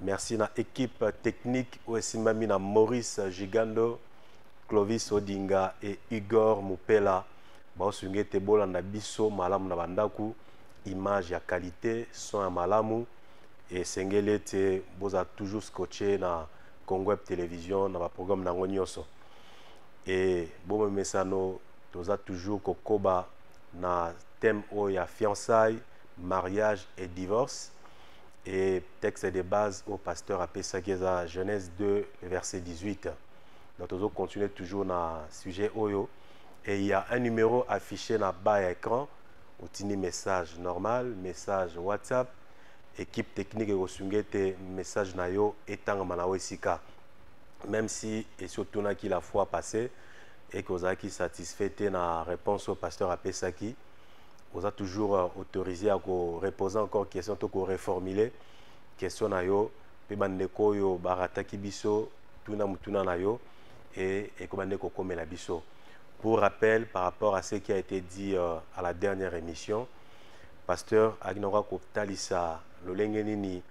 Merci na équipe technique oyo esimbami na Maurice Gigando, Clovis Odinga et Igor Mupela. baosunga ete bolanda biso malamu na bandako image ya qualité son ya malamu esengeli ete bozala toujours scotche na congo web télévision na baprogramme na yango nyonso e bomemesano toza toujours kokoba na thème oyo ya fiançaille mariage et divorce Et texte de base au pasteur a pesaki eza Genèse 2 verset 18. Donc tozo continuer toujours na sujet oyo et il y a un numéro affiché na bas ya écran otindi message normal, message WhatsApp, équipe technique ekosunga ete message na yo etangama na esika. Même si esi otunaki la fois passée et que ozalaki satisfait te na réponse au pasteur a pesaki, oza toujours euh, autorisé à reposer encore question to reformuler question na yo mpe bandeko oyo barataki biso tuna motuna na yo e ekoba nde kokomela biso pour rappel par rapport à ce qui a été dit euh, à la dernière émission pasteur akinaka kotalisa lolenge nini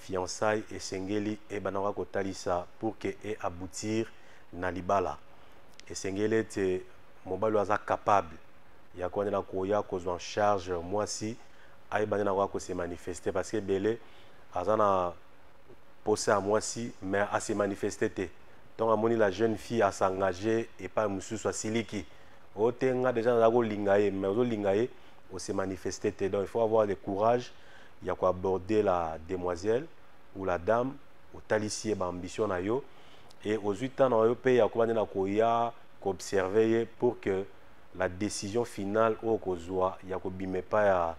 fiançaille esengeli ebanaka kotalisa pour que e aboutir na libala esengeli ete mobali oyo aza capable ya kuande na koya kozwa en charge mwasi ayeba nde na koya kose manifeste parce que ebele aza na posa ya mwasi mais ase manifeste te ntongo amoni la jeune fille asengage epai mosusu asiliki o te nga deja naza kolinga ye mais ozolinga ye ose manifeste te donc il faut avoir le courage ya koaborder la demoiselle ou la dame otalisi ye baambition na yo e ozwi ntan na yo mpe yakoba nde na koya koobserve ye pour que la decision finale oyo okozwa ya kobima epai ya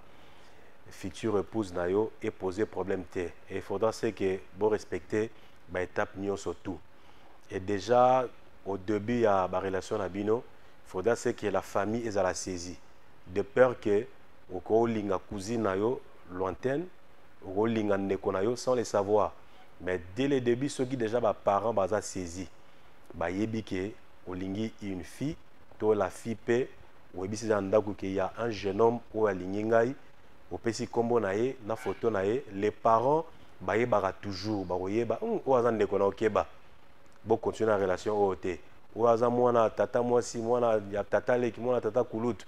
future épouse na yo epose problème te et il faudra se que borespecte baétape nyonso tout et déjà au début ya barelation na bino il faudra se que la famille ezala saisie de peur que okolinga cousine na yo lointaine okolinga ndeko na yo sans le savoir mais dès le début soki déjà baparent baza saisie bayebi ke olingi une fille to la fille pe oyebisi eza na ndako ke ya un jeune homme oyo alingi ngai opesi kombo na ye na foto na ye les parents bayebaka toujours bakoyeba hmm, oyo aza ndeko na okeba bocontinue na relation oyo te oyo aza mwana ya tata mwasi mwana ya tata leki mwana ya tata kulutu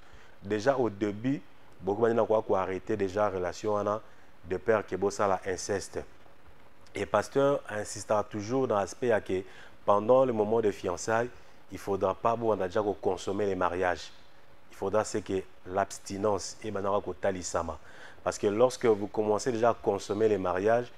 déjà au début bokoki bandi na koya koarrete déjà relation wana de père ke bosala inceste et pasteur insistaka toujours na aspect ya ke pendant le moment de fiançailles il faudra pas bobanda déjà koconsommer les mariages il faudra c'est que l'abstinence ebandaka kotalisama parce que lorsque vous commencez déjà à consommer les mariages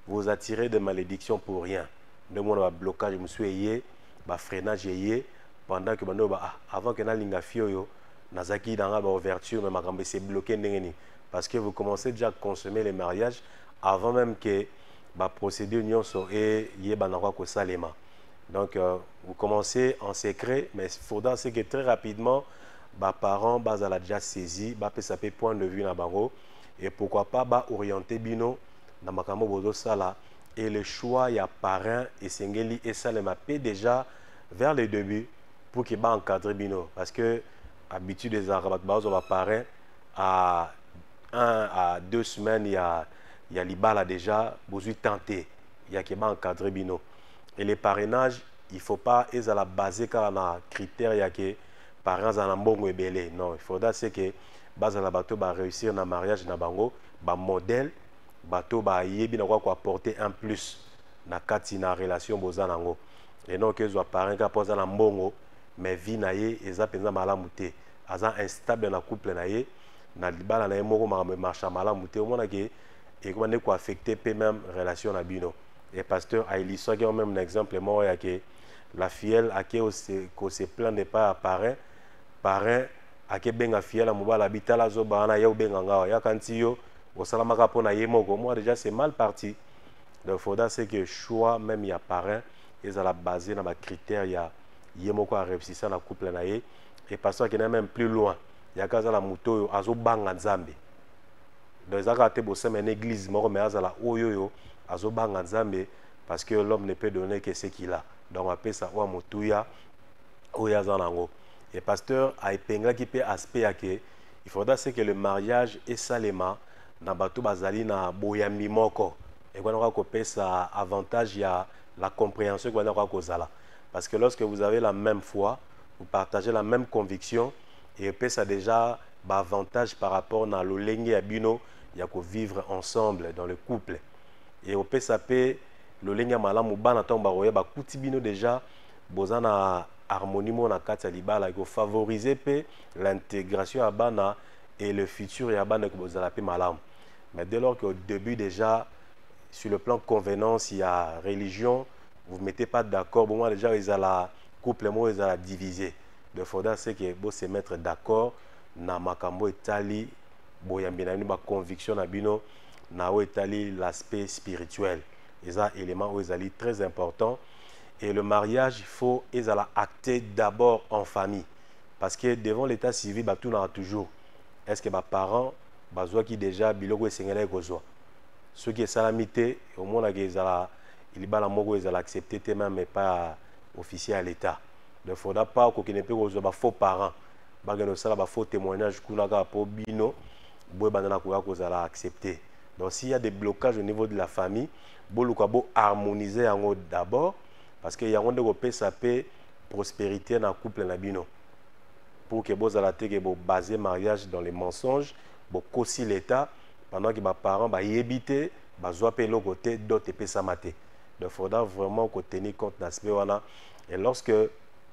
vous attirez des malédictions pour rien nde omona bablocage mosusu eye bafreinage eye pendant que bando ba ah, avant que nalinga fille oyo nazalaki na ngai baouverture mais makambo ese bloqué ndenge nini parce que vous commencez déjà à consommer les mariages avant même que baprocédure nyonso eyebana kwa kosalema Donc, euh, vous commencez en secret, mais il faudra que très rapidement, les parents bazala déjà saisi, ba pesa pe point de vue na bango et pourquoi pas ba orienter bino na makambo bozo sala et le choix ya parrain et sengeli et ça les mapé déjà vers le début pour que ba encadrer bino parce que habitude des arabes bazo ba parrain à un à deux semaines il y a il y a libala déjà bozu tenté il y a que ba encadrer bino et les parrainages il faut pas ezala basé kaka na critère ya ke parent azala na mbongo ebele non il faudra se ke bazala bato baréussir na mariage na bango bamodèle bato bayebi na kwa koapporte un plus na kati na relation boza na yango enok ezwa parent kaka mpo aza na mbongo mais vie na ye eza mpenza malamu te aza instable na couple na ye na libala na ye moko makambo emarcha malamu te omonake ekoba nde koaffecte mpe meme relation na bino et pasteur a illustré quand même un exemple moi ya que la fielle a que ko se plaindre pas à parrain parrain a que benga fielle mobala bitala zo bana yo benga ngawa ya kanti yo osalamaka pona ye moko moi déjà c'est mal parti donc faudra c'est que choix même ya parrain ezala basé na ba critères ya ye moko a réussissa na couple na ye et pasteur qui n'a même plus loin ya kaza la moto oyo azo banga nzambe donc eza kaka te bosema ena église moko me azala oyo oyo azobanga nzambe parce que l'homme ne peut donner que ce qu'il a donc apesa oyo motuya oyo aza nango et pasteur aepenglaki mpe aspect ya ke il faudra ce que le mariage esalema na bato bazali na boyambi moko ekwanaka kopesa avantage ya la compréhension ekwanaka kozala parce que lorsque vous avez la même foi vous partagez la même conviction et epesa déjà ba avantages par rapport na lolenge ya bino ya ko vivre ensemble dans le couple et opesa pe lolenge ya malamu bana ntango bakoya bakuti bino deja boza na harmonie moko na kati ya libala ekofavorize mpe l'intégration ya bana et le futur ya bana ekozala mpe malamu mais dès lors que au début déjà sur le plan convenance ya religion vous mettez pas d'accord bomona déjà ezala couple moko ezala divisé Il faudra ce que vous se mettre d'accord na makambo etali boyambi na bino ba conviction na bino na oyo etali l'aspect spirituel eza élément oyo ezali très important et le mariage faut ezala acté d'abord en famille parce que devant l'état civil batunaka toujours est ce que baparent bazwaki déjà biloko esengelaki kozwa soki esalami te omonaka ezala libala moko ezala accepté te même epai officier ya l'état ne faudra pas kokende mpe kozwa ba faux parents bakende kosala ba faux témoignage kuna kaka mpo bino boyebanda na koya kozala accepte donc s'il y a des blocages au niveau de la famille boluka bo harmoniser yango d'abord parce que yango nde kopesa mpe prospérité na couple na bino pour que bozala te ke bobase mariage dans les mensonges bokosi l'état pendant que baparent bayebi te bazwa mpe eloko te dote epesama te donc faudra vraiment kotenir compte na aspect wana et lorsque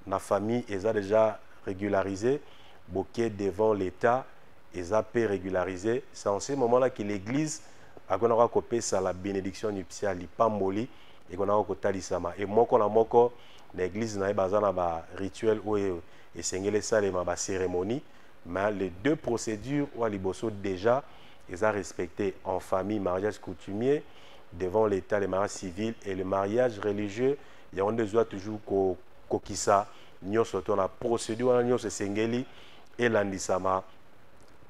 na famille eza déjà régularisé boke devant l'état eza pe régularisé c'est en ce moment là que l'église akonaka kopesa la bénédiction nuptiale lipamboli ekonaka kotalisama e moko na moko na église na ye baza na ba rituel oyo esengeli esalema ba cérémonie mais les deux procédures oyo liboso déjà eza respecté en famille mariage coutumier devant l'état le mariage civil et le mariage religieux yango nde ezwa toujours kokokisa nyonso to na procédure wana nyonso esengeli elandisama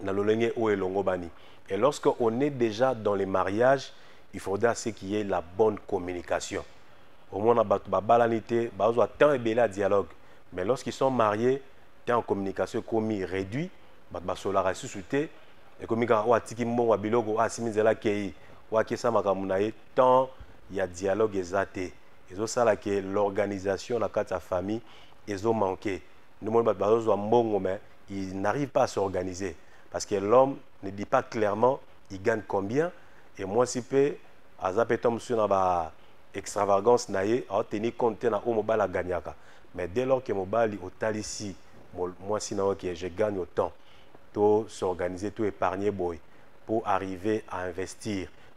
na lolenge oyo elongobani et lorsque on est déjà dans les mariages il faudra ce qui est la bonne communication omona bato babalani te bazwa temps ebele ya dialogue mais lorsqu'ils sont mariés temps ya communication ekomi réduit bato basolaka lisusu te ekomi kaka oyo atiki mbongo ya biloko oyo asimi nzela akei oyo akesa makambo na ye temps ya dialogue eza te ezosala ke l'organisation na kati ya famille ezo manquer nde moni bato bazozwa mbongo mais il n'arrive pas à s'organiser parce que l'homme ne dit pas clairement il gagne combien et mwasi mpe aza mpe temps mosusu na ba extravagance na ye aoteni compte te na oyo mobali aganyaka mais dès lors ke mobali otalisi mwasi na yo ke je gagne autant to s'organiser to épargner boye pour arriver à investir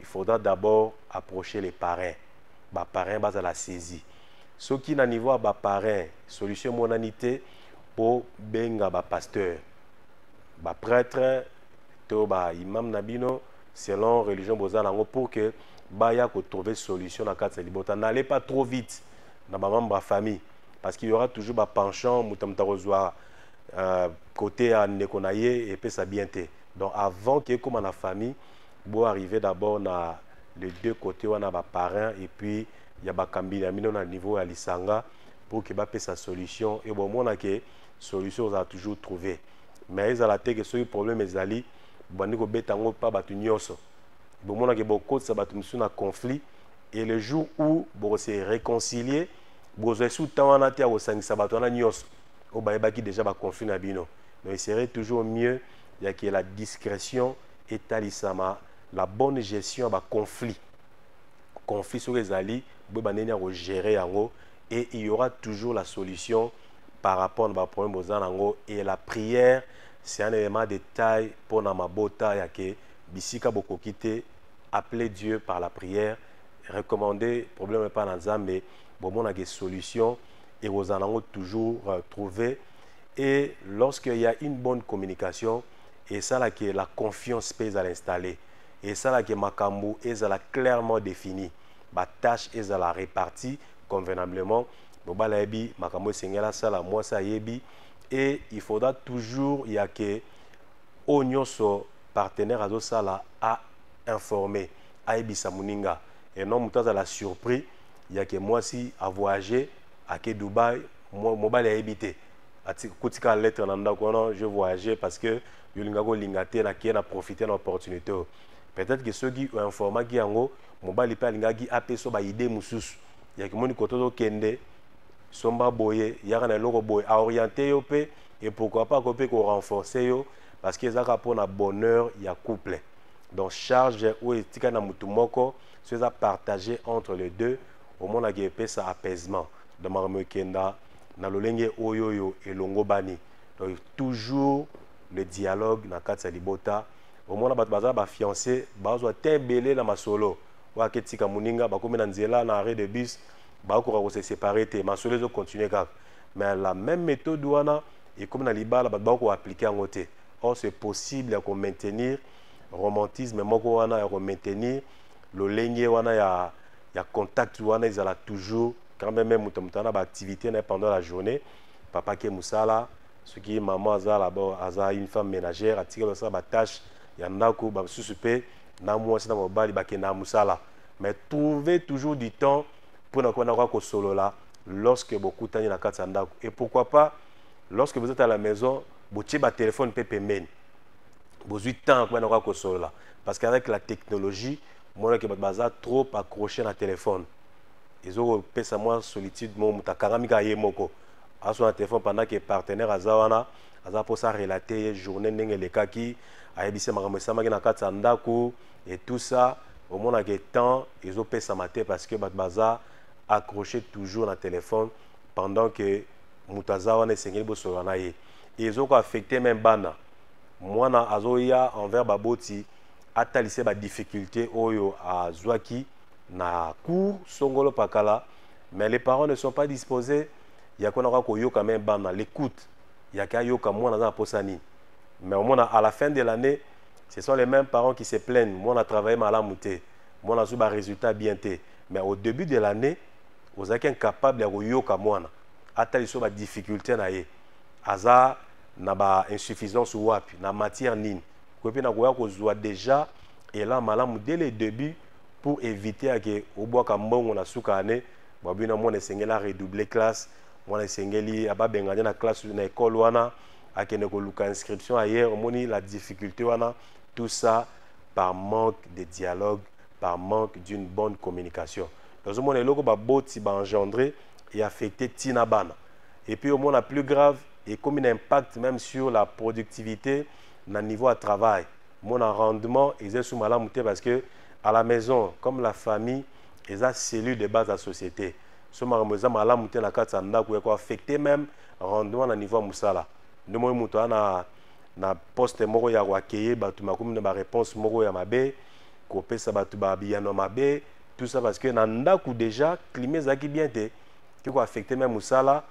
il faudra d'abord approcher les parrains ba parrains bazala saisi soki na niveau ya ba parrains solution emonani te mpo benga ba pasteur ba prêtre to ba imam na bino selon religion boza nango pour que baya kotrouve solution na kati ya libota n'allez pas trop vite na bamembre ya famille parce qu'il y aura toujours bapenchant moto moto akozwa euh, kote ya ndeko na ye epesa bien te donc avant ke ekóma na famille bo arriver d'abord na les deux côtés wana ba parrain et puis ya bakambi na bino na niveau ya lisanga pour que bapesa solution et bomona ke solution ozala toujours trouver mais ezala te ke soki problème ezali bobandi kobeta yango mpa bato nyonso bomona ke bokotisa bato mosusu na conflit et le jour où bokose réconcilier bokozwa esu temps wana te ya kosangisa bato wana nyonso oyo bayebaki déjà baconflit na bino donc il serait toujours mieux ya ke la discrétion etalisama la bonne gestion ya baconflit conflit soki ezali boyeba ndenge ya kogere yango et il y aura toujours la solution par rapport na baproblème boza na yango et la prière c'est un élément de taille mpo na mabota ya ke bisika bokoki te appeler dieu par la prière recommander problème epai na nzambe bomonaka solution ekozala nango toujours euh, trouver et lorsqu'il y a une bonne communication esala ke la confiance mpe ezala installe esala ke makambo ezala clairement défini batâche ezala reparti convenablement mobali ayebi makambo esengeli asala mwasi ayebi et il faudra toujours ya ke oyo nyonso partenaire azosala a informe ayebisa moninga et non moto azala surpris ya ke mwasi avoyage ake dubai mobali ayebi te kotika lettre na ndako wana je voyage parce que yolinga kolinga te nakie na profite na opportunité oyo peut-être ke soki oinformaki yango mobali mpe alingaki apesa baide mosusu yakimoni kote ozokende somba boye yaka na eloko boye aoriente yo mpe et pourquoi pas akoki mpe korenforce yo parce que ezalaka mpo na bonheur ya couple donc charge oyo etika na motu moko so eza partage entre les deux omonaka epesa apaisement donc makambo ekenda na lolenge oyo oyo elongobani donc toujours le dialogue na kati ya libota omona bato baza bafiance bazwa te ebele na masolo oyo aketika moninga bakomi na nzela na arrêt de bus bakoka kose separe te masolo ezokontinue kaka mais la même méthode wana ekomi na libala bato bako aplike yango te or c'est possible ya komaintenir romantisme moko wana ya komaintenir lolenge wana ya, ya contact wana ezala toujours quand même même mutu mutana ba activité na pendant la journée papa ke musala soki maman aza là bas aza une femme ménagère atikela ça ba tâche ya ndako ba susu pe na mwasi na mobali ba kenda musala mais trouver toujours du temps pour na kona ko solola lorsque bokutani na kati ya ndako et pourquoi pas lorsque vous êtes à la maison botie ba téléphone pe pembeni bozui temps ko na ko solola parce qu'avec la technologie mona ke baza trop accroché na téléphone ezokopesa mwa solitude moko moto akangami kaka ye moko aso na telefone pendant ke partenaire aza wana aza mposa relate ye journée ndenge elekaki ayebisi ye makambo esamaki na kati ya ndako et tout ça omonake temps ezopesama te parce que bato baza accroche toujours na telefone pendant ke moto aza wana esengeli bosolola na ye ezoka affecte meme bana mwana azoya envers baboti atalise badifficulté oyo azwaki na cour songolo pakala mais les parents ne sont pas disposés ya kona kaka koyoka me bana l'écoute yake ayoka mwana aza na posa nini mais omona à la fin de l'année ce sont les mêmes parents qui se plaignent mwana travaille malamu te mwana azwi barésultat bien te mais au début de l'année ozalaki incapable ya koyoka mwana ata liso badifficulté na ye aza na bainsuffisance wapi na matière nini koye mpe na koya kozwa déjà elan malamu dès le début pour eviter ya ke obwaka mbongo na suka ane babina mwana esengeli a redoubler classe mwana esengeli ababengane na classe na école wana akende koluka inscription ailleurs omoni la difficulté wana tout ça par manque de dialogue par manque d'une bonne communication nazomona eloko baboti baengendre eaffecte ntina bana et puis omona plus grave ekomi na impact même sur la productivité na niveau ya travail mon rendement eza sous malamu te parce que à la maison comme la famille eza cellule de base ya société so makambo eza malamu te na kati ya ndako ya koaffecte même rendement na niveau ya mosala nde moi moto aa na, na poste moko ya koakeye bato makomi na baréponse moko ya mabe kopesa bato babiyano ya mabe tout ça parce que na ndako déjà climat ezalaki bien te ke koaffecte même mosala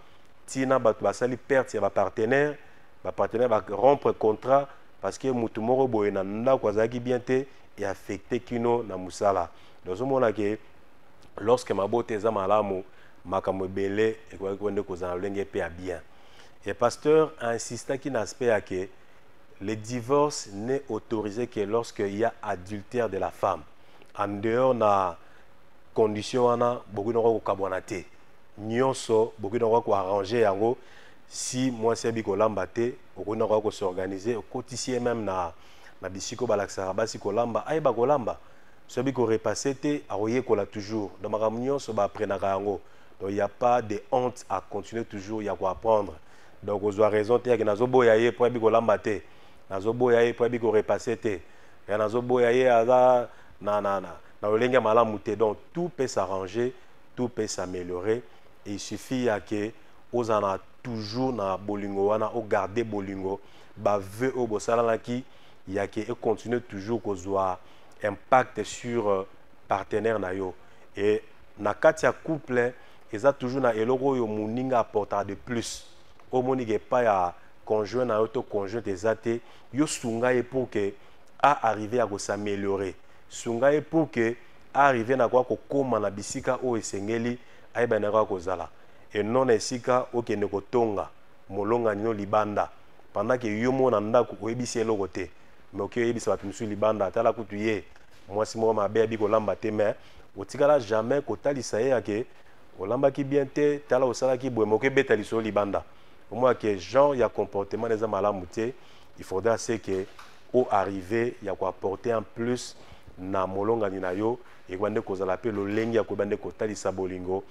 ntina bato basali perte ya bapartenaire bapartenaire barompre contrat parce que mutu moko boye na ndako azalaki bien te et affecté kino na musala donc ozomona ke lorsque mabota eza malamu makambo ebele ekoki ko nde kozala lolenge mpe ya bien et pasteur insistaki na aspect ya ke le divorce n'est autorisé que lorsque il y a adultère de la femme en dehors na condition wana bokoki noko kokabwana te nyonso bokoki noko koarrange yango si mwasi abi kolamba te okoki nakoya kosorganize okotisi ye meme na, na bisika oyo balakisaka basi kolamba ayeba kolamba so abi korepasse te akoyekola toujours donc makambo nyonso baapprenaka yango donc ya pas de honte à continuer toujours ya koapprendre donc ozwa raison te yake nazoboya ye mpo ayebi kolamba te nazoboya ye mpo ayebi korepasse te ya nazoboya ye aza na, na, na, na lolenge ya malamu te donc tout peut s'arranger tout peut s'améliorer et il suffit ya ke ozala na toujours na bolingo wana o garder bolingo ba vœux oyo bosalanaki ya ke e continuer toujours kozwa impact sur euh, partenaire na yo et na kati ya couple eza toujours na eloko oyo moninga apportaka de plus omoni ke epai ya conjoint na yo to conjointe eza te yo sunga ye pour ke a arrive ya kosameliore sunga ye pour ke a arrive na koya kokóma na bisika oyo esengeli ayeba na koya kozala et non na esika okende kotonga molongani no libanda pendant que yo moko na ndako oyebisi eloko te mais oke oyebisa bato mosusu libanda atala kutu ye mwasi moko mabe abi kolamba te mais otikala jamais kotalisa ye yake olambaki bien te tala osalaki boye mais okebeta lisolo libanda omona ke genre ya comportement na eza malamu te il faudra se ke o arrive ya koapporter un plus na molongani na yo ekoba nde kozala mpe lolenge ya koyeba nde kotalisa bolingo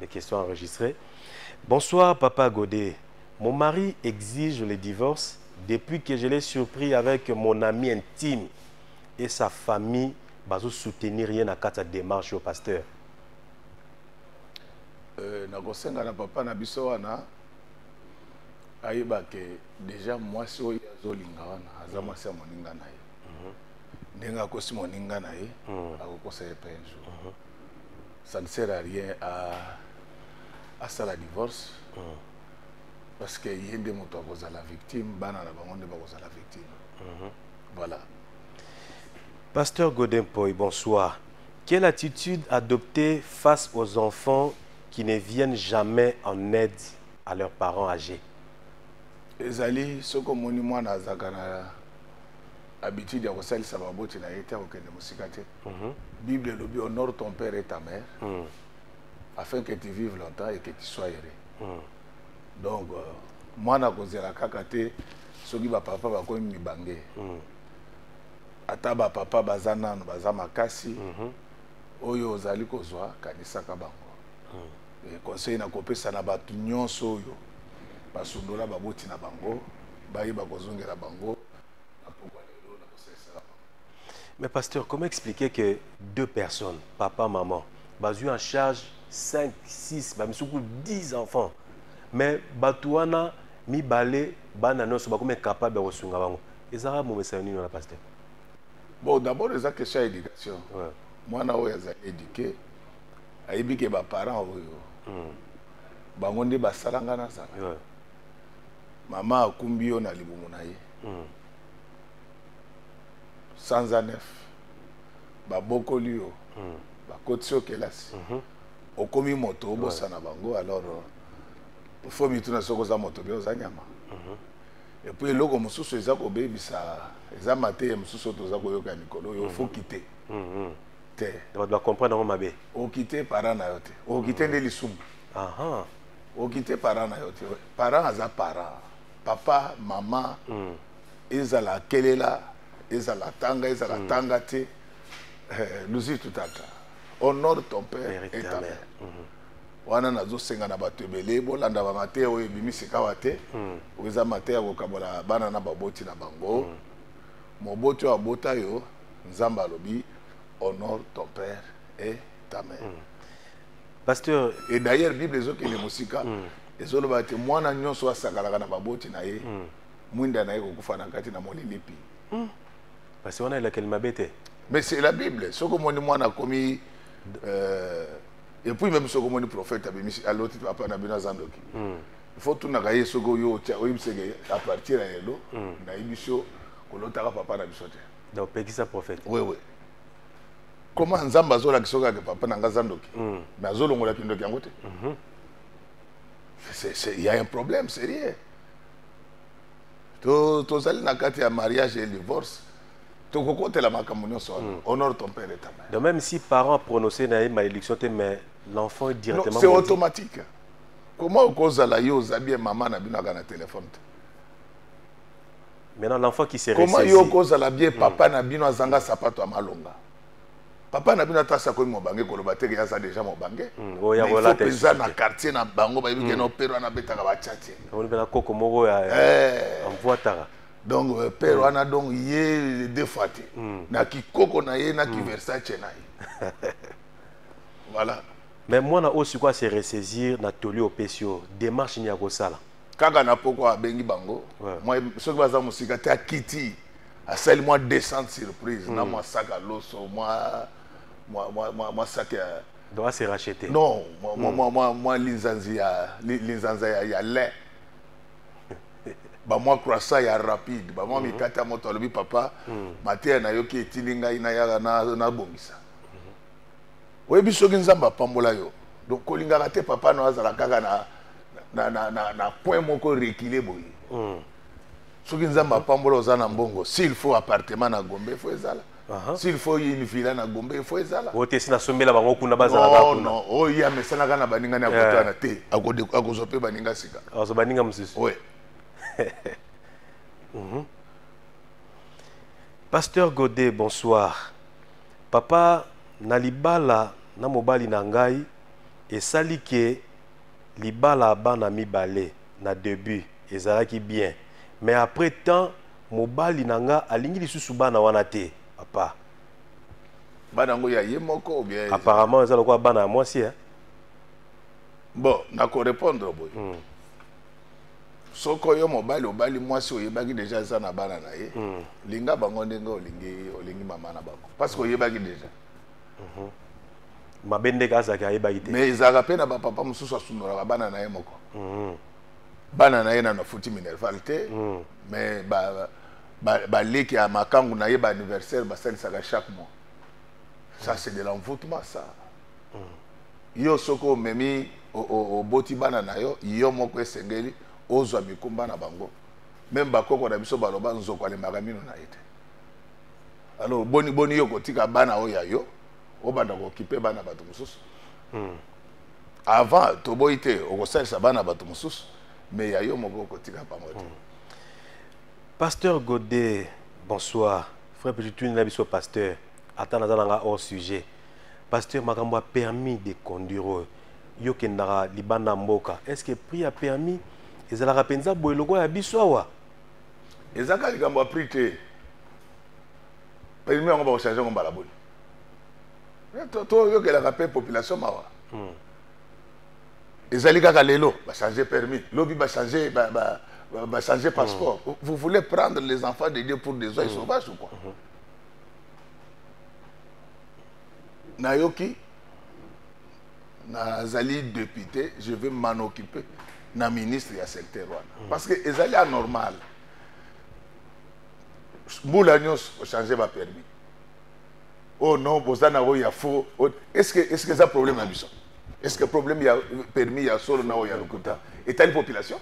des questions enregistrées. Bonsoir, Papa Godet. Mon mari exige le divorce depuis que je l'ai surpris avec mon ami intime et sa famille bazo soutenir rien à quatre démarche au pasteur. Euh, nakosenga na papa na biso wana ayeba ke déjà mwasi oyo azolinga wana aza mm. mwasi ya moninga na ye mm-hmm. ndenge akosi moninga na ye mm. akokosa ye pe un jour mm-hmm. ça ne sert à rien à asala divorce mm. parce que ye nde moto akozala victime bana na bango nde bakozala victime mm -hmm. voilà pasteur godin poi bonsoir quelle attitude adopter face aux enfants qui ne viennent jamais en aide à leurs parents âgés ezali soki omoni mwana azalaka na habitude ya kosalisa baboti na ye te akokende mosika te Mhm. Bible elobi honore ton père et ta mère mm. afin que tu vives longtemps et que tu sois heureux. Mm. Donc euh, mwana kozela kaka te soki ba papa bakomi mibange. Mm. Ata ba papa baza nanu baza makasi. Mm -hmm. Oyo ozali kozwa kanisaka bango. Mm. Et conseil na kopesa na bato nyonso oyo basundola baboti na bango bayeba kozongela bango Mais pasteur, comment expliquer que deux personnes, papa, maman, bazui en charge 5, 6, bamisuku 10 enfants. Mais batuana mi balé bana non soba comme capable de sunga bango. Ezara mo message nini na pasteur. Bon, d'abord eza question éducation. Ouais. Moi na oya za éduquer. Ayebi que ba parents oyo. Hmm. Bango nde basalanga na zala. Ouais. Mama akumbi yo na libumu na ye. Hmm. sanza nef babokoli yo mm. bakotisi yo kelasi mm -hmm. okomi moto obosana ouais. bango alors euh, fo mituna soki oza moto bia oza nyama mm -hmm. epuis eloko mosusu eza kobebisa eza mateya mosusu oyo toza koyoka ya mikolo oyo mm -hmm. fo kite mm -hmm. te bato bacomprendre yango mabe okite para na yo te okite mm -hmm. nde lisumu okite para na yo te para aza para papa mama mm. ezala akelela ezala atanga ezala hmm. atanga te eh, luzitu tata honore ton père et ta mère hmm. wana nazosenga na bato ebele bolanda bamateya oyo ebimi sikawa te hmm. oyo eza mateya kokabola bana na baboti na bango moboti oyo abota yo nzambe alobi honore ton père et ta mère pasteur et d'ailleurs bible ezokende mosika ezoloba te mwana nyonso asakalaka na baboti na ye mwinda na ye kokufa na kati na molilipi hmm. pasi wana elakeli mabe te mais c'est la bible soki omoni mwana akomi euh, et puis même soki omoni prophète abimisi aloti papa na bino aza ndoki hmm. faut tunaka ye soki oyo otya oyebiseke à partir ya lelo hmm. nayebi so kolotaka papa na biso te donc pekisa prophète oui oui comment nzambe azolakisa oyo kaka papa na ngai aza ndoki hmm. mais azolongola kindoki yango te mhm. il y a un problème sérieux To tozali na kati ya mariage et divorce. Tokokotela makambo nyonso wana. Hmm. Honore ton père et ta mère. Donc même si parent a prononcé na ye malédiction te mais l'enfant est directement non, c'est automatique. Comment okozala yo oza bien maman na bino aka na téléphone te. Maintenant l'enfant qui s'est ressaisi. Comment yo okozala bien hmm. papa na bino azanga sapato ya malonga. papa na bino ata asi akomi mobange koloba te ke aza déjà mobange hmm, ifo mpenza na quartier na bango bayebi ke hmm. no pere wana abetaka bacatie na koko moko ya eh. amvuataka donc euh, pere hmm. wana donc ye de fois te na kikoko na ye na kiversace na ye voilà mais mwana oyo sikoyo ase ressaisir na toli opesi oyo démarche nini ya kosala kaka na poko abengi bango soki baza mosika te akiti asali mwa descente surprise na hmm. mwa saka loso mwa mwa mwa mwa mwa saka ya doit se racheter non mwa mwa hmm. mwa mwa linzanzi ya linzanza ya ya lin ba mwa croissant ya rapide ba mwa hmm. mikate ya moto alobi papa mateya nayoki etindi ngai nayaka nabongisa oyebi soki nzambe apambola yo donc kolingaka te papa no azala kaka na na na na coin moko rekile boye soki nzambe apambola oza na mbongo s'il faut appartement na gombe il faut ezala s'il faut une villa na gombe il faut ezala oyo te si nasombela bango kuna bazalaka oh, kuna oyo ye amesanaka na baningani akotana eh. te akozwa mpe baninga sika akozwa baninga mosusu oui mhm. pasteur godet bonsoir papa na libala na mobali na ngai esali ke libala bana mibale na debut ezalaki bien mais après temps mobali na nga alingi lisusu bana wana te papa bana yango ya ye moko bien apparemment eza lokola bana ya mwasi eh? bon nakorépondre boye mm. soko yo mobali obali mwasi oyebaki deja aza na bana na ye mm. linga bango ndenge olingi olingi mama na bango parce que oyebaki deja Mhm. mabe ndeke azalaki ayebaki te mais ezalaka mpe na bapapa mosusu asundolaka bana na ye moko mhm. bana na ye nano afuti minerval te mhm. mais baleki ya makangu na ye baanniversaire basalisaka chaque mois ça c'est de l'envoûtement ça yo soki omemi oboti bana na yo yo moko esengeli ozwa mikumba na bango meme bakoko na biso baloba nzoko alemaka mino na ye te alors boni boni yo kotika bana oyo ya yo obanda kokipe bana bato mosusu hmm. avant toboyi te okosalisa bana bato mosusu me ya yo moko okotika bango te hmm. pasteur godet bonsoir frère petituni na biso pasteur ata naza na nga hors sujet pasteur makambo ya permis de conduire oyo yo kendaka libanda mboka est ce que prix ya permis ezalaka mpenza boye lokola ya biso awa eza kaka likambo ya prix te permis yango bakochange yango mbala boni toyokelaka mpe population mawa hmm. ezali kaka lelo bachange permis lobi bachange ba, ba, ba, ba hmm. passeport mm. vous voulez prendre les enfants de dieu pour des oies mm. sauvages ou quoi mm -hmm. nayoki nazali député je vais m'en occuper na ministre ya secteur wana mm. parce que ezali anormal mbula nyonso ochange bapermis oh non boza na oyo ya faux oh, est ce que est ce que eza problème na biso est ce que problème ya permis ya solo na oyo ya lokuta etali population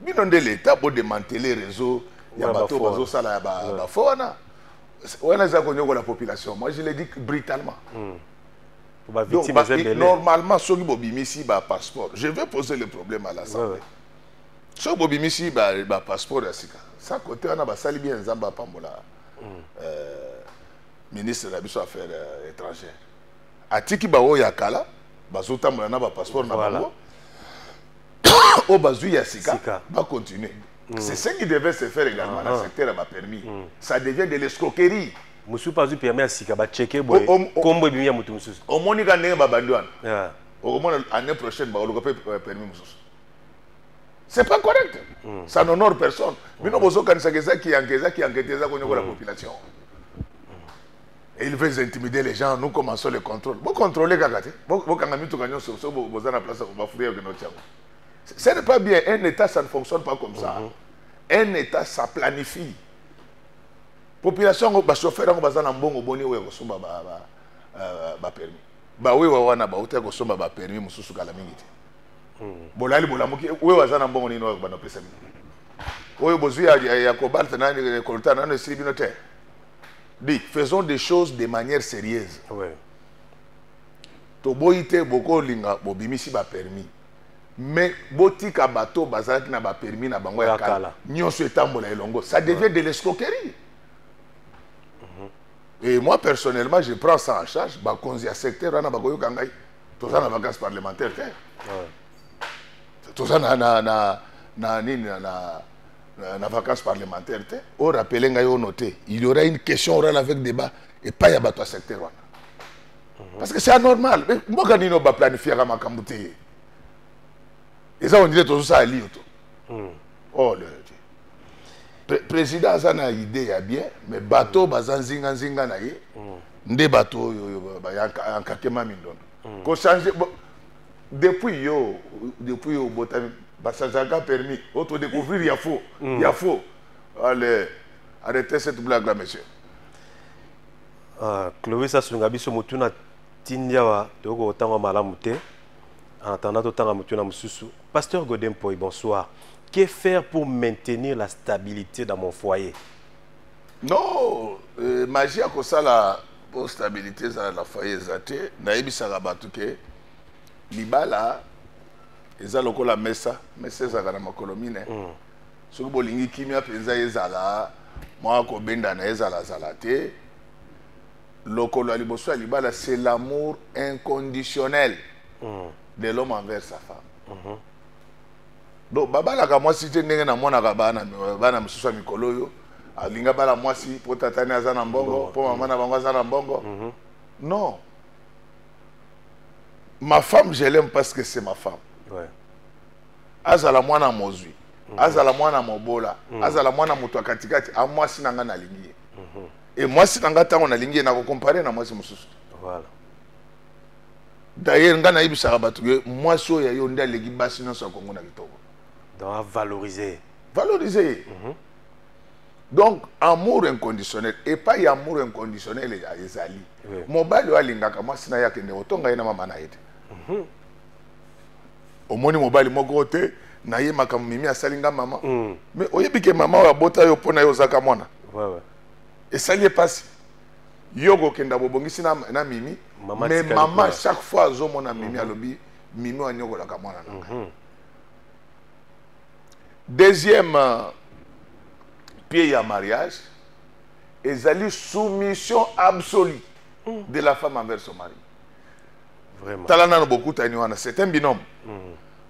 bino nde leta bodemantele réseau ya bato bazosala ya bafo wana wana eza konyokola population moi je le dis brutalement mm. Donc, bah, normalement, ceux qui bobimisi ba passeport, je vais poser le problème à l'Assemblée. Ouais, ouais. Ceux qui bobimisi ba, ba passeport ya sika. Ça côté on a ba sali bien Zamba Pambola. Mm. Euh, ministre de la biso affaires euh, étrangères. Atiki ba oyo ya kala, bazo tambola na ba passeport na voilà. bango. au bazui ya sika, sika. ba continuer. Mm. C'est ce qui devait se faire également mm. dans le ah. secteur à ma permis. Mm. Ça devient de l'escroquerie. mosusu mpe azwi permis ya sika bacheke boye nkombo ebimi ya moto mosusu omoni ka ndenge babandi wana ah. okomona année prochaine bakoluka mpe euh, permis mosusu c'est pas correct mm. ça n'honore personne bino bozokanisaka eza kiyanke eza kiyanke te eza konyokola mm. population et ils veulent intimider les gens nous commençons le contrôle bocontrôle kaka te bokanga mituka nyonso so boza na place bafuri ya kende otiango ce n'est pas bien un état ça ne fonctionne pas comme ça mm -hmm. un état ça planifie population yango bachauffeur yango baza na mbongo boni oyo ya kosomba bapermis euh, bawewa wana bauta ya kosomba bapermis mosusu kala mingi te hmm. bolali bolamuki oyo aza na mbongo nini oyo bana opesa bino oyo bozwi ya kobalta nani kolta nano esili bino te di faisons des choses de manière sérieuse toboyi te bokolinga bobimisi bapermis mais botika bato oyo bazalaki na bapermi na bango ya kala nyonso etambola elongo ça devient de l'escroquerie mhm. et moi personnellement je prends ça en charge bakonzi ya secteur wana bakoyoka ngai toza na vacance parlementaire te toza na, na, na, na nini na, na Euh, na vacances parlementaire te orapele ngai ono te il y aura une question orale avec débat epai ya bato ya secteur wana parce que c'est anormal mboka nini oyo baplanifiaka makambo te eza ondire tozosala liyo to hmm. oh le président aza na idée ya bien mais bato hmm. baza nzinganzinga na ye hmm. nde bato oyo yankakema mindondo kochange depuis yo depuis yo obotami bachangeaka permis oyo todécouvrir ya faux ya faux allez arrêtez cette blague là monsieur Uh, Clovis asunga biso motuna tindi awa toyoko kotanga malamu te en attendant totanga motuna mosusu pasteur godin poi bonsoir que faire pour maintenir la stabilité dans mon foyer non euh, magie akosala mpo stabilité ezala na foyer eza te nayebisaka bato ke libala eza lokola mesa mesa ezalaka na makolo mine mm. soki bolingi kimia mpenza ezala mwa kobendana ezalazala te lokolo ya liboso ya libala c'est l'amour inconditionnel mm. de l'homme envers sa femme mm -hmm. donc babalaka mwasi te ndenge namonaka bana, bana mosusu ya mikolo oyo alingi abala mwasi mpo tatani aza na mbongo mpo mama na bango aza na mbongo mm -hmm. non ma femme je l'aime parce que c'est ma femme ouais. azala mwana mozwi mhm. azala mwana mobola mhm. azala mwana moto ya katikati a mwasi na ngai nalingi ye mhm. e mwasi na ngai ntango nalingi ye nakokompare na mwasi mosusu voilà. dayer ngai nayebisaka bato ke mwasi oyo ya yo nde aleki basi nyonso ya kongo na kitoko valoriser valoriser ye mm -hmm. donc amour inconditionnel epai ya amour inconditionnel ezali mobali oyo alingaka mwasi na ye akende kotonga ye na mama na ye te mhm. omoni mobali moko te na ye makambo mimi asali nga mama mm. mais oyebi ke mama oyo abota yo mpo na yo ozaka mwana ouais, ouais. esali ye mpasi yo kokenda bobongisi na, na mimi mama mais mama chaque fois azomona mimi mm -hmm. alobi mimi oyo anyokolaka mwana na ngai mm -hmm. deuxième euh, pied ya mariage ezali soumission absolue mm. de la femme envers son mari Vraiment. Tala nano bokutani wana, c'est un binôme. Mm.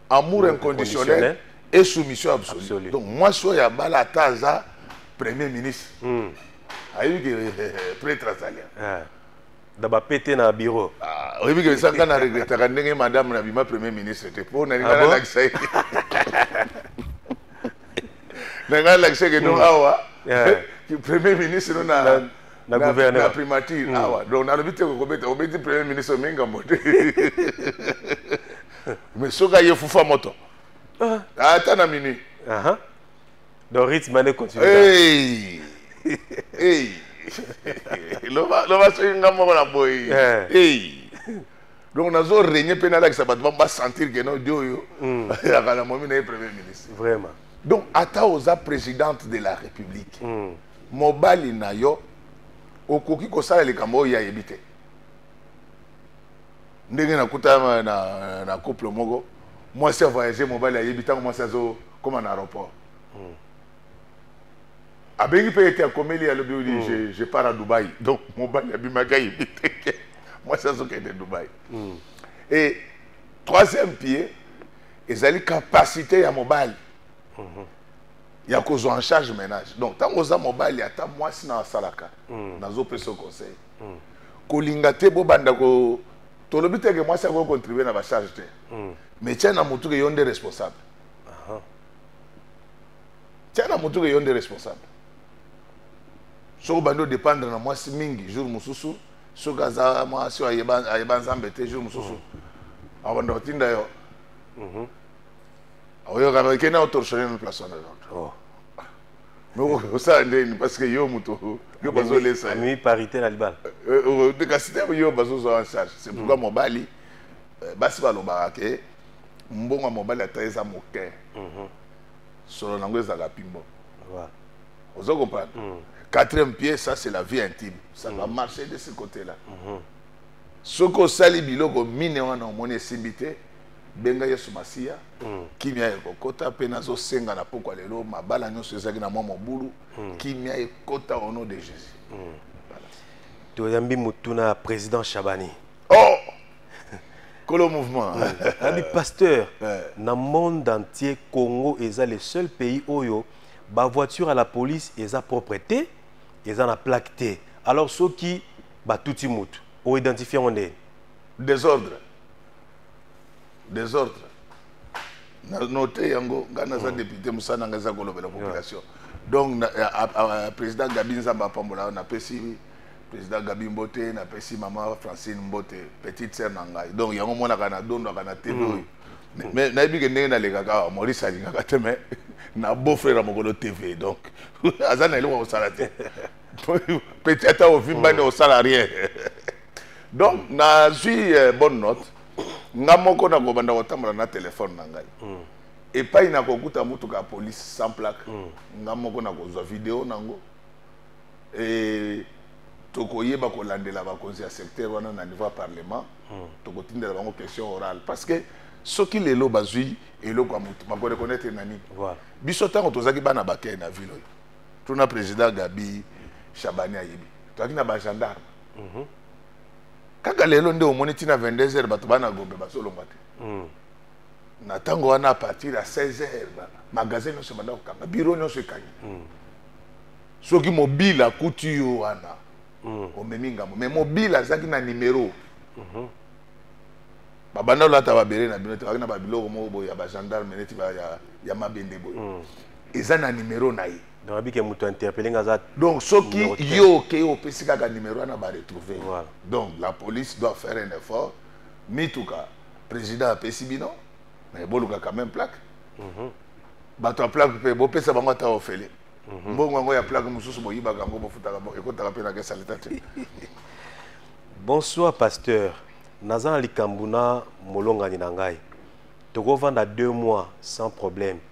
Amour mm. inconditionnel et soumission absolue. absolue. Donc moi so ya bala taza premier ministre. Mm. Ayebi que eh, eh, eh, prêtre azali. Ah. daba pete na bureau ah, oyebi ke esanga na regretaka ndenge madame na bima premier ministre te mpo nalinga ah nalakisa ye nalinga nalakisa ke no mm. awa premier ministre no na na gouverneur na primature mm. awa donc nalobi te kokobeta obeti premier ministre omi ngambo te mais soki aye fufa moto ah. ata na minuit donc rythme ane continue hey. hey. loba soki nga moko na boye eh. hey. donc nazo règne mpe nalakisa bato bango basentir ke nodi oyo mm. azalaka na momi na ye premier ministre vraiment donc ata oza présidente de la république mm. mobali na yo okoki kosala likambo oyo ye ayebi te ndenge nakuta na, na couple moko mwasi avoyage mobali ayebi ntango mwasi azokoma na aéroport hmm. abengi mpe ete akomeli alobi odi hmm. je, je part a dubai donc mobali abimaki ayebi te mwasi azokende dubai hmm. e troisième pied ezali capacité ya mobali mm -hmm. ya kozwa en charge ménage donc ntango oza mobali ata mwasi na asalaka mm. nazopesa yo conseil mm. kolinga te bobanda ko tolobi te ke mwasi akoki contribue na bacharge te mm. mais tia na motuke yo nde responsable tia na motuke yo nde responsable soki obandi odépendre na mwasi mingi jour mosusu soki aza mwasi ayeba nzambe te jour mosusu mm. abanda kotinda yo mm -hmm. oyokana oke na otorshone na place wana oh. osala ndeni parce que yo moto yo bazolesa amemi parité na libala euh, euh, euh, kasi te yo bazozwa en charge c'est pourquoi mm. mobali basi balobaka ke mbongo ya mobali ata eza moke mhm. solo nango ezalaka pimbo ozo comprendre mm. quatrième pied ça c'est la vie intime ça va mm. marcher de ce côté là mhm. soki osali biloko mine wana omoni esimbi te benga yesu masiya mm. kimia ekokota mpe nazosenga na pokwa lelo mabala nyonso ezalaki na mwa mobulu mm. kimia ekota au nom de jésus mm. toyambi motuna ya président chabani oh! kolo mouvement abi pasteur na monde entier congo eza le seul pays oyo bavoiture à la police eza propre te eza na plaque te alors soki batuti motu oidentifie yango ndeni désordre desordre na note yango ngai naza mm. député mosala na ngai eza kolobela population donc président gabi nzambe apambola napesi président gabi mbote napesi mama francine mbote petite sœur na ngai donc yango monaka na dondaka na tv oyo mm. mais nayebi ke ndenge nalekaka awa maurice alingaka te mais na beau frère ya mokolo tv donc aza na eloko ya kosala te petit ata ovimbani osala rien donc nazwi eh, bonne note nga moko nakobanda kotambola na telefone na ngai mm. epai nakokuta motuka ya polise sans plaque mm. nga moko nakozwa video nango e, tokoyeba kolandela bakonzi ya secteur wana na niveau ya parlement mm. tokotindela bango question orale parce que soki lelo bazwi eloko ya motu bakoreconnaitre na nini voilà. biso ntango tozalaki bana bakei na ville oyo tuna président gabi shabani ayebi tozalaki na bagendarme mhm. kaka lelo nde omoni ntina 22 heures bato bana gombe bazolongwa te mhm. na ntango wana a partir ya 16 heures magasin nyonso ebanda kokanga biro nyonso ekangi mhm. soki mobile akuti yo wana omemi ngambo mais mobile azalaki na nimero babanda olata babele na bino te kaki na babiloko moko boye ya bagendarme neti ya mabende boye eza na nimero na ye donc abiki ya moto interpele nga aza donc soki yo okei opesi kaka numéro wana baretrouve voilà. donc la police doit faire un effort mituka président apesi bino mais boluka quand même plaque mm -hmm. bato ya plaque mpe bopesa bango ata ofele mm -hmm. mbongo yango ya plaque mosusu boyibaka yango bofutaka ekotaka mpe na kesa leta te bonsoir pasteur naza na likambo na molongani na ngai tokovanda deux mois sans problème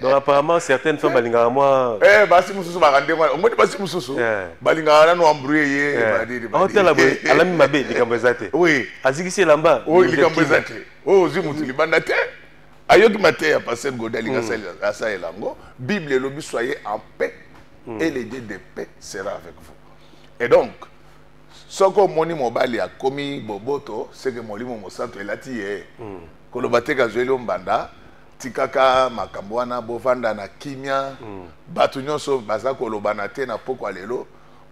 donc apparemment certaines femmes balingaka mwa eh, basi mosusu baka ndenge wana omoni basi mosusu eh. balingaka nano embrouye ye eh. aotala boye alami mabe likambo eza te azikisi elamba likambo eza te oyo oh, ozwi motu libanda te ayoki mateya ya paster gode alinga hmm. asalela yango bible elobi soye en paix hmm. et le dieu de paix sera avec vous et donc soki omoni mobali akomi boboto seke molimo mosantu elati ye hmm. koloba te kazweli yo mbanda tikaka makambo wana bovanda na kimia mm. bato nyonso baza kolobana te na pokwa lelo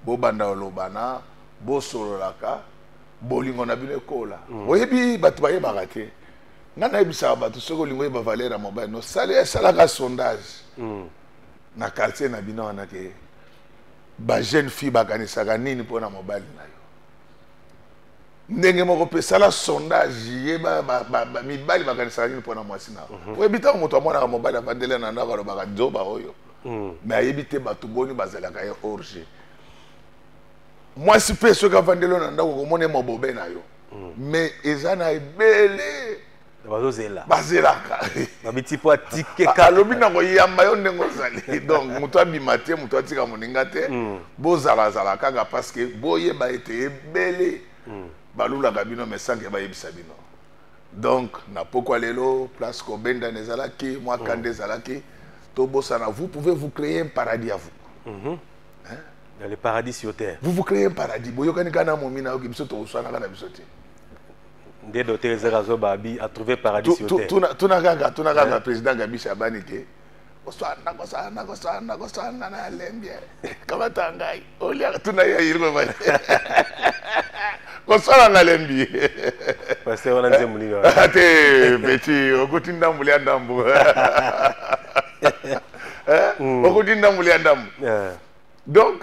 bobanda kolobana bosololaka bolingo na bino ekola mm. oyebi bato bayebaka te ngai nayebisaka bato soki olingi oyeba valeur ya mobali no sali esalaka sondage mm. na quartier na bino wana ke bajeune fille bakanisaka nini mpo na mobali na yo ndenge moko mpe sala sondage yeba mibali bakanisaka nini mpo na mwasi na mhm. oyebi ntango moto amonaka mobali avandele na ndako alobaka nzoba oyo me mhm. ayebi te bato boni bazalaka ye orge mwasi mpe soki avandelo na ndako okomona ye mobobe na yo me mhm. eza na ebele bazozela bazelaka babiti mpo atike kaka alobi na koyamba yo ndenge ozali donc moto abima te moto atika moninga te mm. bozalazala kaka parce que boyeba ete ebele mm. balulaka bino mesanke bayebisa bino donc na pokwa lelo place kobendana ezalaki mwa mm. kanda ezalaki tobosana vous pouvez vous créer un paradis à vous mm-hmm. hein? dans le paradis sur terre vous vous créez un paradis boyokani kaka na momi na yoki biso tokosanaka na biso te nde dote ezaka zoba abi a trouver paradis sur terre tuna tuna kaka tuna kaka président Gabi Shabani te oswana koswana koswana koswana na lembie kamata ngai olia tuna ya yirma mali koswana na lembi pasteur wana nzembo nini wana te beti okuti ndambu lia ndambu okuti ndambu lia ndambu donc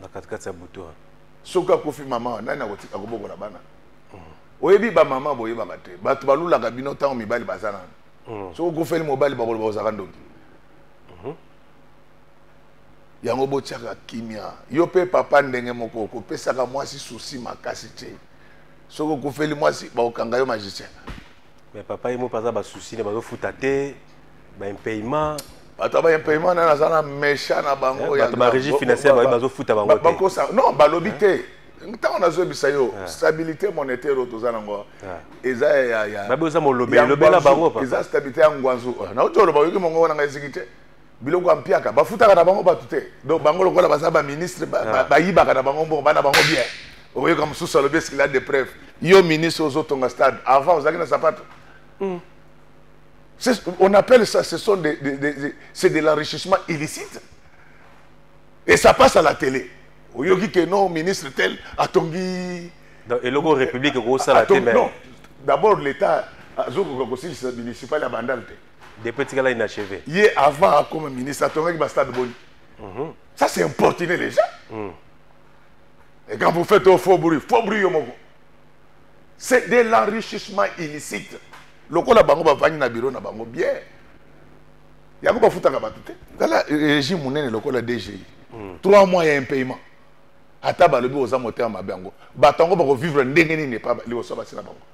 na katikati ya butu wana soki akufi mama wana nani akotika kobokola bana mm. oyebi bamama boyebaka te bato balulaka bino ntango mibali baza nano mm. soki okufeli mobali bakoloba ozaka ndoki mm-hmm. yango botyaka kimia yo mpe papa ndenge moko okopesaka mwasi susi makasi te soki okufeli mwasi bakokanga yo magicien mais papa ye moko aza basusi na bazofuta te baimpayement bato ya baimpayement nani aza na mecha na bango eh, bato barégie financière baye bazofuta bango te bakosa non balobi eh? te ntango nazoyebisa yo eh. stabilité monétaire oyo toza nango eza yayababe oza molobelobela bango eza stabilité ya ngwanzu nauti oloba oyoki mongongo na ngai eziki te biloko ya mpiaka bafutaka na bango bato te donc bango lokola baza baministre ah. bayibaka na bango mbongo bana bango bien oyoka mosusu alobi eskila de preuve yo ministre ozotonga stade avant ozalaki na sapato hmm. on appelle ça ce sont des, des, des, des c'est de l'enrichissement illicite et ça passe à la télé oyoki ke non ministre tel atongi eloko république ekosala te non d'abord l'état azokoka kosilisa municipal ya bandal te depuis etikala inacheve ye avant akoma ministre atongaki bastade boni mhm. ça c'est importuné les gens mm. et quand vous faites au faux bruit faux bruit yo moko c'est de l'enrichissement illicite lokola bango bavandi na biro na bango bien yango bafutaka bato te tala euh, régime monene lokola dgi mm. trois mois ya impayement ata balobi oza motema mabe yango bato yango bakofvivre ndenge nini epa liboso basi na bango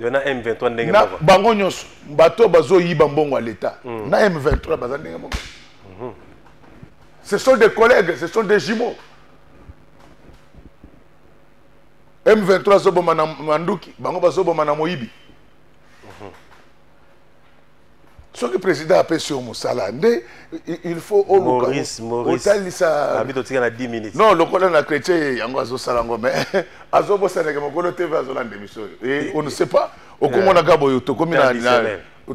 na M23 ndenge moko. Bango nyonso bato bazo yiba mbongo ya l'État. Mm. Na M23 baza ndenge moko. Mm-hmm. Ce sont des collègues, ce sont des jumeaux. M23 zoboma na manduki, bango bazoboma na moyibi. soki président apesi yo mosala nde il faut olukaotalisa non lokola na chrétien yango azosala yango mais azobosaneke mokolo tv azolanda émission oyo eh, eh, on ne eh. sait pas okomonaka boye tokomi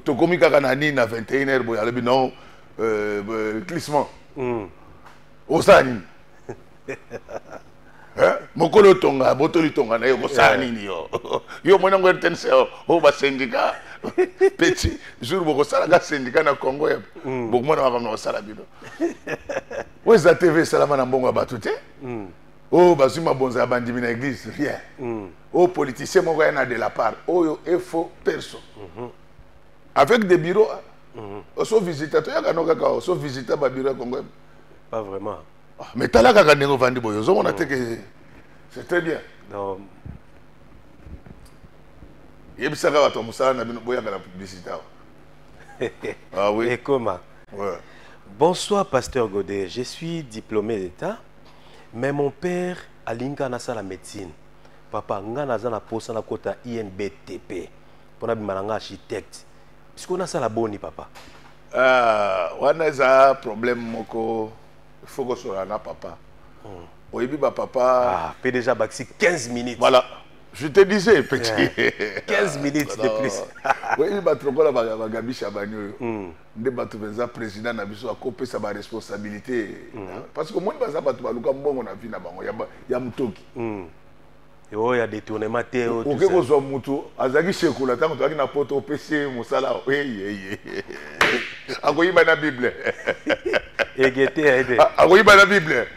tokomi kaka na nini na 21 heure boye alobi non euh, glissement hmm. osala nini Eh, mokolo otonga botoli tonga na yo kosala eh. nini yo yo omoni yango rtnc oyo oh, oh, basendika peti jour bokosalaka sendika na congo ya mm. bokomona makambo na kosala bino oyo eza tv esalama na mbongo ya bato te mm. oyo oh, bazwi mabonza ya bandimi na église rien mm. oyo politicien moko ya na de la part oyo efo perso mm-hmm. avec des bureaux mm-hmm. oso visita toyaka no kaka oso visita babiro ya congo pas vraiment ah, mais tala kaka ndenge ovandi boye ozomona te ke c'est très bien yebisaka bato ya mosala na bino boyaka na publicité awa ah, oui. ekoma ouais. bonsoir pasteur godet je suis diplômé d'état mais mon père alinga nasala médecine papa ngai naza na mposa nakota inbtp mpo nabima na ngai architecte sikoyo nasala boni papa ah, wana eza problème moko faut ko solo na papa hmm. oyebi ba papa ah pe déjà baxi 15 minutes voilà je te disais petit yeah. 15 minutes de plus oyebi ba trop la ba gabi chabani oyo hmm. nde bato mpenza président na biso akopesa baresponsabilité hmm. parce que omoni baza bato baluka mbongo na vie na bango ya motoki oyo ya détournement te oke kozwa motu azalaki sekola ntango tozalaki na poto opesi ye mosala eyeye akoyiba na bible egete akoyiba na bible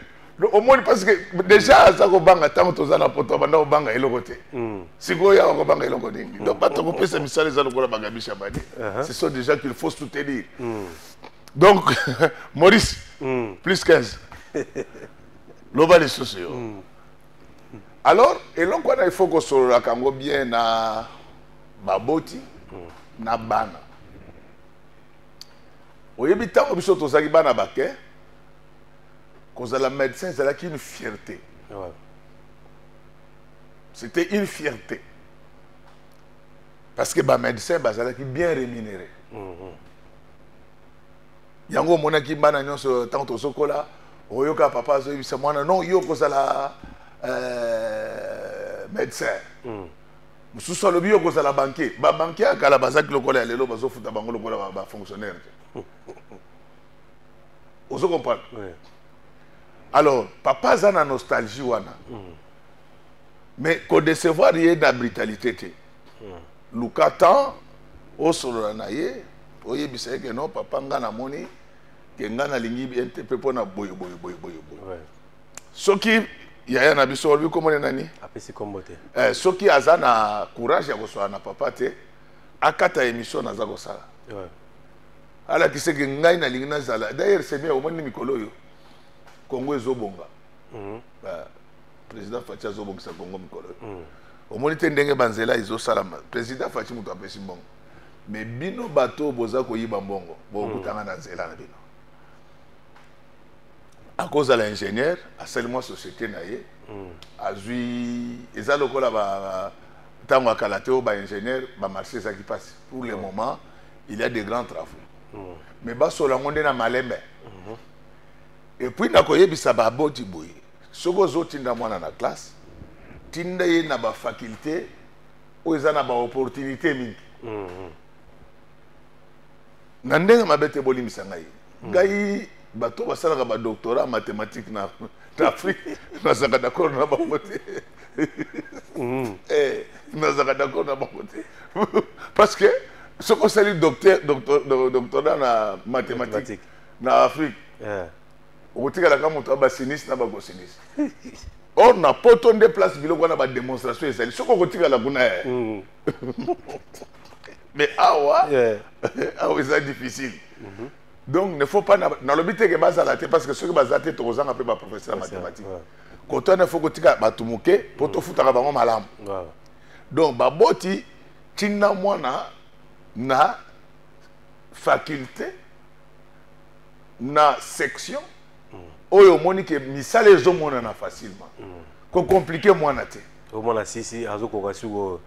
omoni parce que déjà aza kobanga ntango toza na poto abanda kobanga eloko te hmm. sikoyo awa kobanga eloko nini donc hmm. bato kopesa misala eza lokola bagabisha bani uh-huh. ce sont des gens qu'il faut soutenir hmm. donc maurice plus 15 loba lisusu yo alors eloko wana ifo kosololaka yango bien na baboti na bana oyebi ntango biso tozalaki bana bake kozala médecin ezalaki une fierté ouais. c'était une fierté parce que bamédecin bazalaki bien rémunéré mm -hmm. yango omonaki bana nyonso ntango tozokola oyoka papa azoyebisa mwana non yo okozala euh, médecin mm. mosusu alobi yo okozala banke babanke ya kala bazaki lokola ya lelo bazofuta bango lokola bafonctionnaire te ozo comprendre oui. alors papa aza na nostalgie wana mm. mais kodecevoir ye na brutalité te hmm. luka temps osolola na ye oyebisa ye ke non papa nga namoni ke nga nalingi bien te mpe mpo na boye boye boye boye boye soki yaya na biso olobi komone nani apesi kombo te eh, soki aza na courage ya koswala na papa te akata émission naza kosala ouais. alakisa ke ngai nalingi nazala d'ailleurs semia omoni mikolo oyo kongo ezobonga mm -hmm. uh, président faci azobongisa congo mikolo mm. omoni te ndenge banzela ezosalama président faci moto apesi mbongo mais bino bato oyo boza koyiba mbongo bokutanga mm. na nzela na bino akozala ingénieur asali mwa société na ye mm. azwi eza lokola ntango ya kala te oyo baingénieur bamarché ezalaki mpasi pour le moment il y a des grands travaux mais basola yango nde na malembe mm-hmm. epuis nakoyebisa baboti boye soki ozotinda mwana na classe tinda ye na bafaculte oyo eza na baopportunité mingi mm-hmm. na ndenge mabe te bolimbisa ngai mm. ngai bato basalaka badoctorat mathématique na afrique nazalaka d'accord na bango te mm. eh, nazalaka d'accord na bango te parce que soki osali doctorat na mathématique na afrique eh. okotikala kaka moto ya basinisi na bakosinisi or na poto nde place biloko wana bademonstration ezali soki okotikala kuna eh. mm. mais awa awa eza difficile mhm. donc ne faut pas nalobi teke bazala te parce que soki baza te tokozanga mpe baprofesseur ya mathématique koto wana faut kotika bato moke mpo mm. tofutaka bango malamu donc baboti ntina mwana na faculté na section oyo omoni ke misala ezomonana facilement kocomplike mwana te omona sisi azokoka sikoyo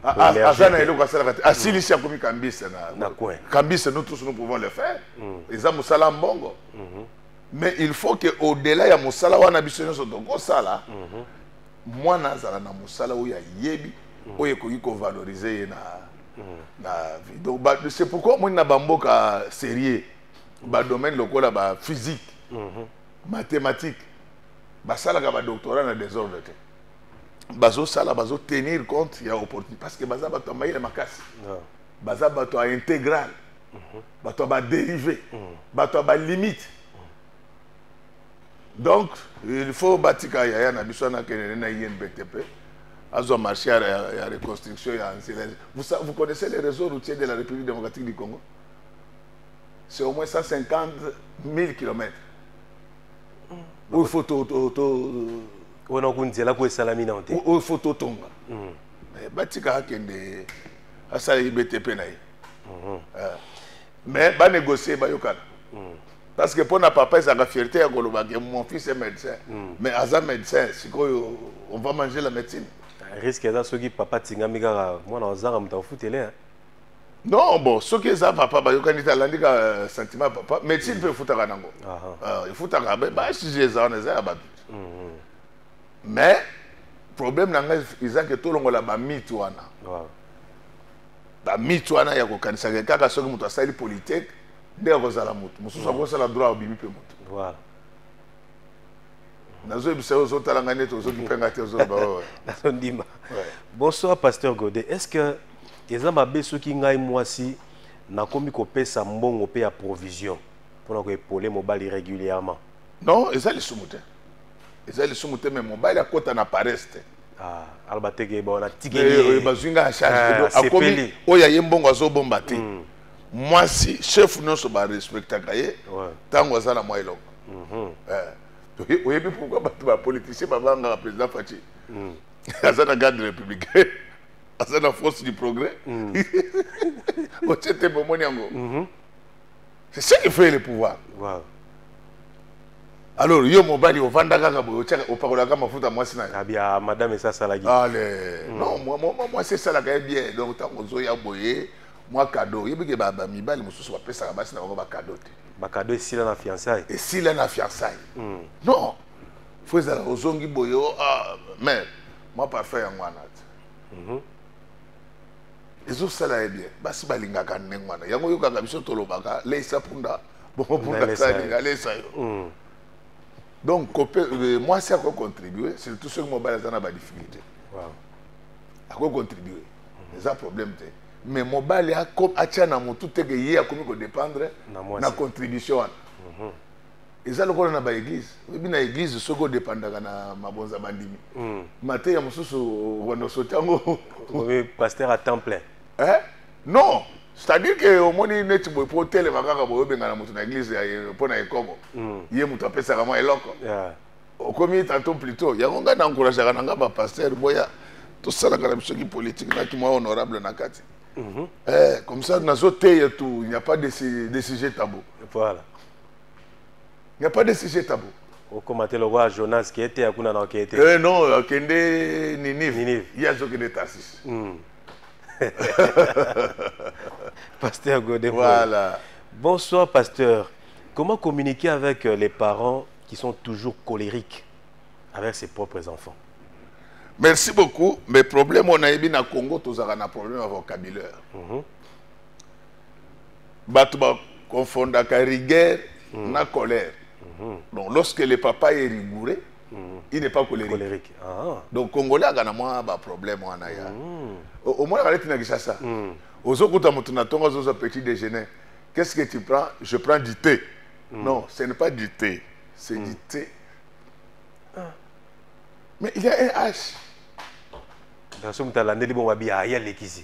aza na eloko asalaka te asilisi akomi kambise na kambise nous tous nous pouvons le faire eza mosala mbongo mais il faut que au delà ya mosala wana biso nyonso tokosala mwana azala na mosala oyo ayebi oyo ekoki kovalorize ye na na vie donc c'est pourquoi omoni na bamboka sérieux ba domaine lokola ba physique mhm. mathématique basalaka ba doctorat na désordre te bazosala tenir compte ya opportunité parce que baza bato ya mayele makasi ah. baza bato ya intégral mhm. bato ya badérivé mhm. bato ya balimite donc il faut batika yaya na biso anakende na inbtp azwa marché ya, ya, ya reconstruction ya nzela vous, vous connaissez les réseaux routiers de la république démocratique du congo c'est au moins 150 000 kilomètres mm. oyo fo wana okonzela ko esalami nao te oyo fo totonga mm. eh, batika akende asala ibete mpe na ye mm-hmm. eh, mais banégocie bayokana mm. parce que mpo na papa ezalaka fierté ya koloba ke mon fils est médecin mm. mais aza médecin sikoyo on va manger la médecine risque eza soki papa atingami kaka mwana azanga moto akofutele non bon soki eza papa bayokani te alandi ka euh, sentiment ya papa médecine mpe efutaka nango euh, efutaka basujet eza wana eza ya bato mhm. mais problème na ngai eza ke tolongola bamite wana bamite wana ya kokanisaka kaka soki moto asali politique nde akozala moto mosusu mhm. akosala droit obimi mpe moto nazoyebisa yo ozotala ngai neti ozokipe ngai te ozoloba ndima bonsoir pasteur gode est ce que eza mabe soki ngai mwasi nakomi kopesa mbongo mpe ya provision mpo na koepole mobali régulièrement non eza lisumu te eza lisumu te me mobali akota na pares te ah, aloba teke bona tikeli bazwi ngai ya charge ah, akomi oyo aye mbongo azobomba te mm. mwasi chef nyonso barespectaka ye ntango aza na mwa eloko mhm. eh, oyebi pourkui bato bapoliticien babangaka président faci mm. aza na garde républicain aza na force du progrès mm. otie tembe omoni yango mm-hmm. c'est ce qui fait le pouvoir wow. alors yo mobali ovanda kaka boye otiaka opakolaka mafuta mwasi na yobia ah, madame esi asalaki ale mm. non mwasi esalaka ye bien donc ntango ozoya boye mwa kado oyebike bamibali mosusu bapesaka basi na bango bakado te bakado esila na fiançaille esila na fiançaille mm. non fo ezala ozongi boye oh, ah, mais mwa parfum yango wana mhm. ezosala ye bien basi balingaka ndenge wana yango oyokaka biso tolobaka leisa punda bongo punda alinga leisa yo mm. donc euh, mwasi akoki contribue surtout soki mobali aza na badifficulté akoki contribue mm. eza problème te mais mobali atya na motu teke ye akomi kodépendre na contribution wana mhm. eza lokola na baeglise oyebi na eglise soki odepandaka na mabonza bandimi hmm. mateya mosusu okono sote yango pasteur a temps plein eh? non c'est-à-dire ke omoni neti boye mpo otelema kaka boye obengana moto na eglise mpo na ekobo hmm. ye moto apesaka mwa eloko okomi tanto plutot yango ngai na encourageaka na ngai bapaster boya tosalaka na biso kipolitike na kimwa honorable na kati mhm. eh, comme ça nazoteya tu il n'y a pas de, de sujet tabou voilà Il n'y a pas de sujet tabou. okoma te lokola jonas kee te akuna na okee te eh non akende ninive ninive ye azokende tarsis hmm. pasteur gode voilà bonsoir pasteur comment communiquer avec euh, les parents qui sont toujours colériques avec ses propres enfants merci beaucoup mais problème on a na congo tozalaka na problème ya vocabulaire mm -hmm. bato ba confondaka rigueur mm. na colère mm-hmm. donc lorsque le papa est rigoureux mm. il n'est pas colérique, colérique. Ah. donc congolais aka na mwa baproblème wana ya mm. omonaka neti na kinshasa mm. ozokuta moto na ntongo azozwa petit déjeuner qu'est-ce que tu prends je prends du thé mm. non ce n'est pas du thé c'est mm. du thé ah. mais il y a un h dans ce moment alandeli bongo abi aya lekisi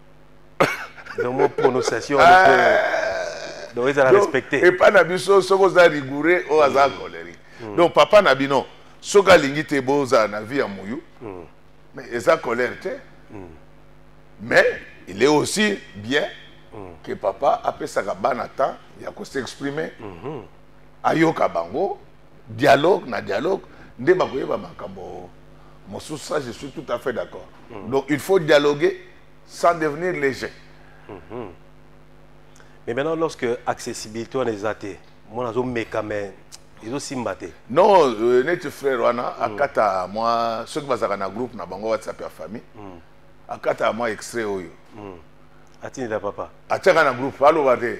donc mo prononciation ah. donc ezala respecte epai na biso soki oza rigoureux oyo aza mm. colerique mm. donc papa na bino soki alingi te bozala na vie ya moyu mm. mais eza colère te mais il est aussi bien que papa apesaka bana temps ya ko s'exprimer mm-hmm. ayoka bango dialogue na dialogue nde bakoyeba makambo mosusu ça je suis tout à fait d'accord mm. donc il faut dialoguer sans devenir léger mm -hmm. mais maintenant lorsque accessibilité wana eza te mwana azomeka mais ezosimba te non euh, neti frère wana mm. akata mwa soki bazalaka na groupe na bango whatsapp ya famille mm. akata mwa extrait oyo mm. atindela papa atiaka na groupe aloba te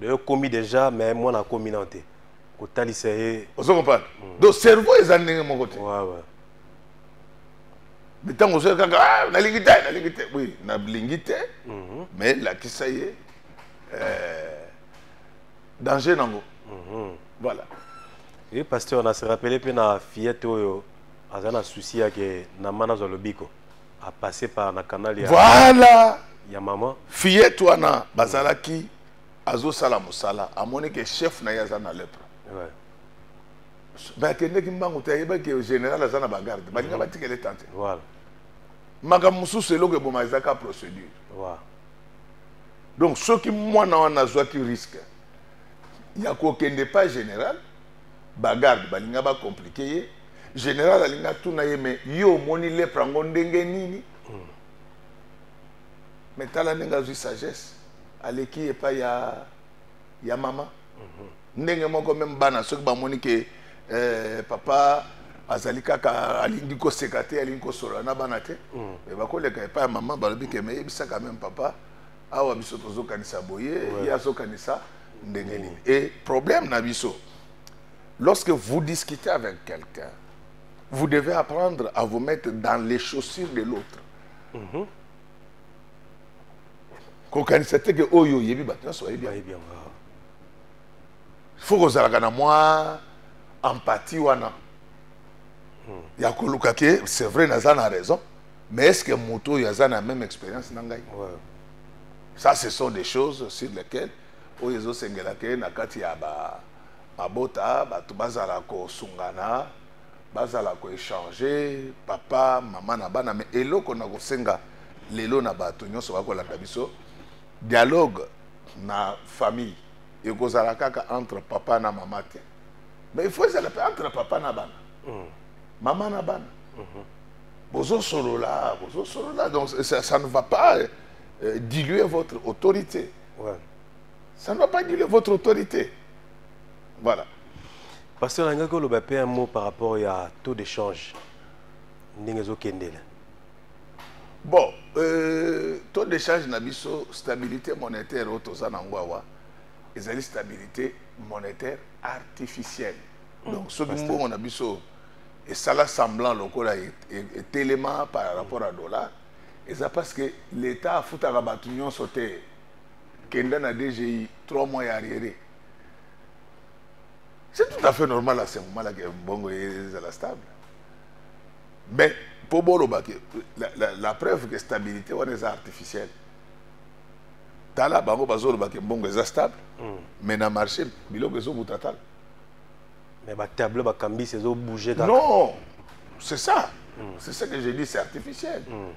de okomi déjà mais mwana akomi nao te kotalisa ye ozo comprendre mm. donc cerveau eza ndenge moko te me ntango ozoya kaka ah, nalingi te nalingi te oui nalingi te mhm. mais lakisa ye euh, danger nango mhm. voilà ye pasteur na se rappele mpe na fillette oyo aza na souci yake na mana azwa lobiko a passer par na canal ya voilà ya maman fillette wana bazalaki azosala mosala amoni ke chef na ye aza na lepre ouais. bakendeki mbangu te ayebaki général aza na bagarde balinga mhm. batikele tante voilà. makambo mosusu eloko eboma eza ka procédure voilà. donc soki mwana wana azwaki risque ya kokende pas général ba garde balinga ba compliquer ye general alinga tuna ye mais yo omoni lepre yango ndenge nini mm. mais tala ndenge azwi sagesse aleki epai ya, ya mama mm -hmm. ndenge moko meme bana soki bamoni ke eh, papa azali kaka alingi koseka te alingi kosolola na bana te mm. mais bakoleka epai ya mama balobi ke meyebisaka meme papa awa biso tozokanisa boye ouais. ye azokanisa ndenge nini mm. et problème na biso lorsque vous discutez avec quelqu'un vous devez apprendre à vous mettre dans les chaussures de l'autre mm -hmm. kokanisa te ke oyo oyebi bato nyonso bayebi fo kozalaka na mwa empathie wana hmm. ya koluka ke c'est vrai naza na raison mais est ce que moto oyo aza na même expérience na ngai ouais. ça ce sont des choses sur lesquelles oyo ezosengela ke na kati ya ba mabota bato bazala kosungana bazala koechange papa mama na bana me eloko na kosenga lelo na bato nyonso bakolanda biso dialogue na famille ekozala kaka entre papa na mama te mais il faut ezala mpe entre papa na bana mm. mama na bana mm -hmm. Bozo solola, bozo solola, donc ça, ça ne va pas euh, diluer votre autorité. Ouais. Ça ne va pas diluer votre autorité. Voilà. Parce que nalingaki oloba mpe un mot par rapport ya taux d'échange ndenge ezokendela bon euh, taux d'échange na biso stabilité monétaire oyo toza na yango awa ezali stabilité monétaire artificielle donc soki mbongo na biso Et ça là semblant lokola et etelema par rapport à dollar et ça parce que l'état a foutu à batu nyon sauter kenda na DGI 3 mois à arrière c'est tout à fait normal à ce moment là que bongo est à la stable mais pour bolo bah, la, la, la preuve que stabilité on est artificielle tala bango bazoloba ke mbongo eza stable mm. mais na marché biloko ezobuta tala Mais ba tableau ba kambis ezo bouger kaka. Non. C'est ça. Mm. C'est ça que j'ai dit, c'est artificiel. Mm.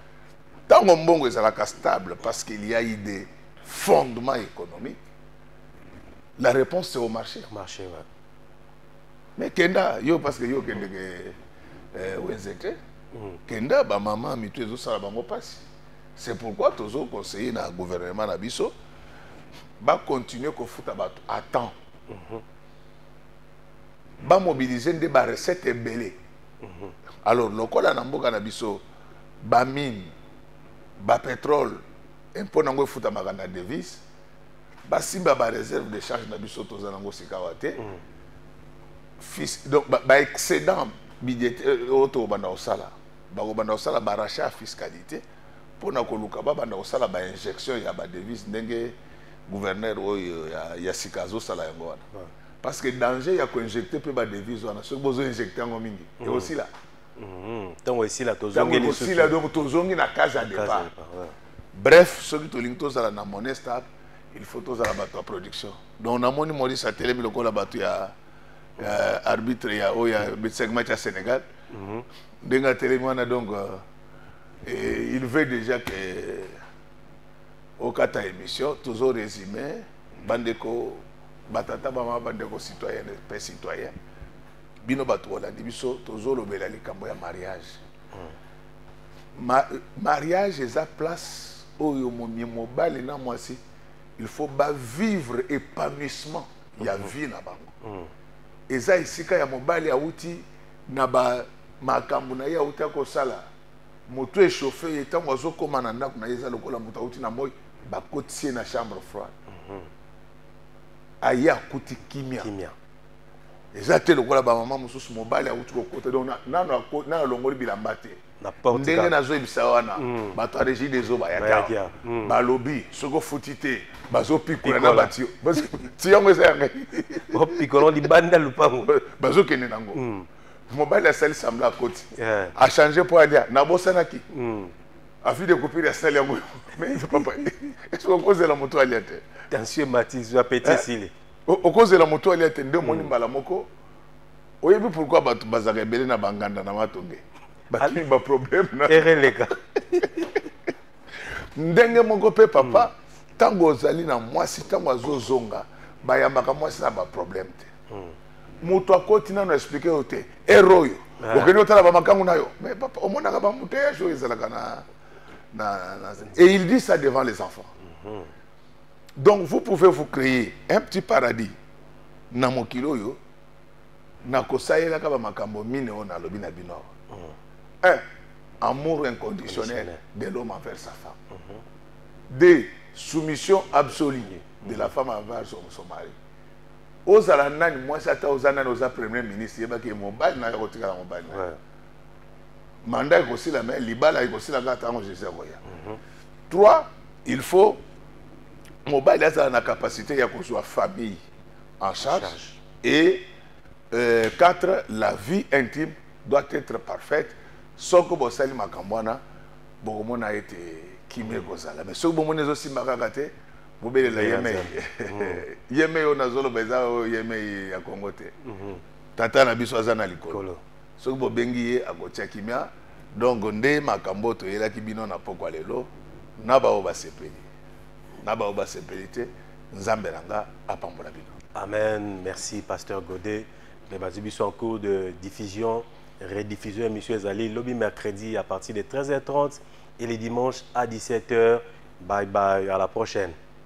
Tant que Mbongo est stable parce qu'il y a eu des fondements économiques, la réponse c'est au marché. Marché, ouais. Mais Kenda, yo parce que yo Kenda que euh, Wenzete, mm. Kenda ba maman mitu ezo sala bango passe. C'est pourquoi tozo conseiller na gouvernement na biso ba continuer ko futa ba à temps. Mm -hmm. ba mobiliser nde ba recette ebele mhm. alors lokola na mboka na biso ba mine ba pétrole impôt nango efutamaka na devise basimba ba réserve de charge na biso toza nango sikawa te mhm. fils donc ba, ba excédent budgétaire euh, oyo tokobanda kosala bakobanda kosala ba rachat ya fiscalité pona koluka babanda kosala ba injection ya ba devise ndenge gouverneur oyo ya, ya sika azosala yango wana ouais. parce que danger ya koinjecte mpe ba devise wana soki bozoinjecte yango mingi mm. ekosila ntango mm. esila tozongiekosila donc tozongi na case ya départ bref soki tolingi tozala na monnaie stable il faut tozala bato ya production donc namoni maurice atelemi lokola bato ya arbitre ya oyo ya segment ya sénégal mm-hmm. ndenge atelemi wana donc euh, Et il veut déjà que okata émission toujours résumé bandeko batata bama bandeko citoyen pe citoyen bino bato bolandi biso tozolobela likambo ya mariage hmm. Ma, mariage eza place oyo momie mobali na mwasi il faut bavivre épanouissement ya hmm. vie na bango hmm. eza esika ya mobali awuti na ba makambo na ye auta kosala moto echauffe ye ntango azokoma na ndako na ye eza lokola moto auti na moi bakotisi ye na chambre froide mhm. aye akuti kimia eza te lokola bamama mosusu mobali auti kokota donc nano alongoli bilamba te ndenge nazoyebisa wana hmm. bato ya regi des eaux bayaki hmm. balobi soki ofuti te bazopikola na batio yango eza ya ngai opikola libanda lupango bazokende nango hmm. mobali asali sambla akoti achange mpo alia nabosanaki afi de kopiri asali yango papa esoki okozela moto alia te tension matizwa peti eh, esili okozela moto alia te nde omoni mbala moko oyebi pourquoi bato bazalaka ebele na banganda na matonge batuni baproblème na ereleka ndenge moko mpe papa ntango hmm. ozali na mwasi ntango azozonga bayambaka mwasi na baproblème te hmm. moto akoti nano explike yo te ere oyo ah. okende otala bamakango na yo mais papa omonaka bamouteillage oyo ezalaka na, na, na et il dit ça devant les enfants mm -hmm. donc vous pouvez vous créer un petit paradis na mokili oyo nakosalelaka bamakambo mine oyo nalobi na bino awa mm. eh, amour inconditionnel de l'homme envers sa femme mm-hmm. de soumission absolue mm-hmm. de la femme envers son, son mari ozala nani mwasi ata oza nani oza premier ministre yebaki ye mobali nayo akotikala mobali na ye manda ekosila me libala ekosila kaka ntango jésus akoya mm-hmm. trois il faut mobali azala na capacité ya kozwa famille en charge, charge. et euh, quatre la vie intime doit être parfaite soko bosali makambo wana bokomona ete kimia ekozala mais soki bomoni ezosimba kaka te bobelela yemei yemei oyo nazoloba eza oyo yemei ya kongo te mhm. tata na biso aza na likolo soki bobengi ye akotia kimia donc nde makambo oyo toyelaki bino na pokwa lelo na baoyo basepeli na baoyo basepeli te nzambe na nga apambola bino amen merci pasteur godet mpe bazwi biso en cours de diffusion rediffusion ya émission ezali lobi mercredi à partir de 13h30 et les dimanches à 17h bye bye à la prochaine